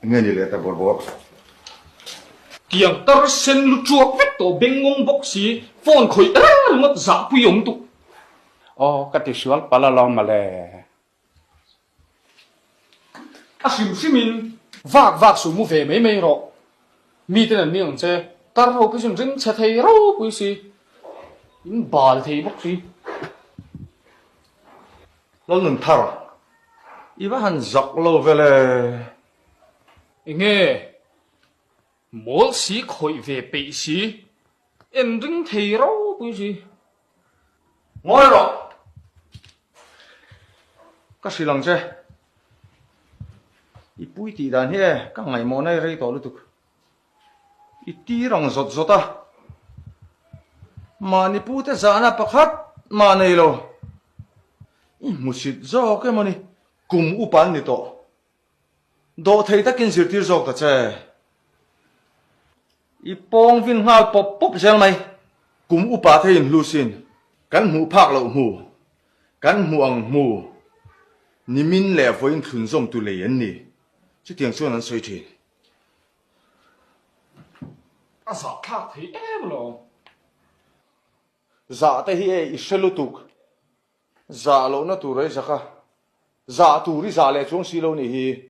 Nge ni leh ta bawr bawk. Kiang tar sen lu tuak vek tawh beng ngawng bawk si phone khawih er er ngawt zah pui awm tuk. Aw ka ti sual pal alawm male. A hrim hrim in vak vak suh mu ve mai mai rawh mi ten an ni ang che tar ho pawhin ring chhe thei ro pui si in bal thei bawk si. Lo nun thar. I va han zak lo vel e. Enge? Mawlsi khawih ve peih si. En ring thei ropui si. Ngawi rawh. Ka hrilh ang che. I puitih dan hi e, ka ngaihmawhna i rei tawh lutuk. I tir ang zawt zawt a. Mahni pute zahna pakhat mah nei lo. I hmusit zawk em awni. Kum upan ni tawh. Dawh thei takin zirtir zawk ta che. I pawng vin nghal pawp pawp zel mai. Kum upa thei in hlu sin. Kan hmuh phak loh hmu. Kan hmuh ang hmu. Nimin leh vawiin thlun zawmtu lei an ni. Chutiang chuan an sawi thin. A zah thlak thei em lo. Zah te hi e i hre lutuk. Zah lohna tur rei zaka. Zah tur i zah leh chuang si lo ni hi.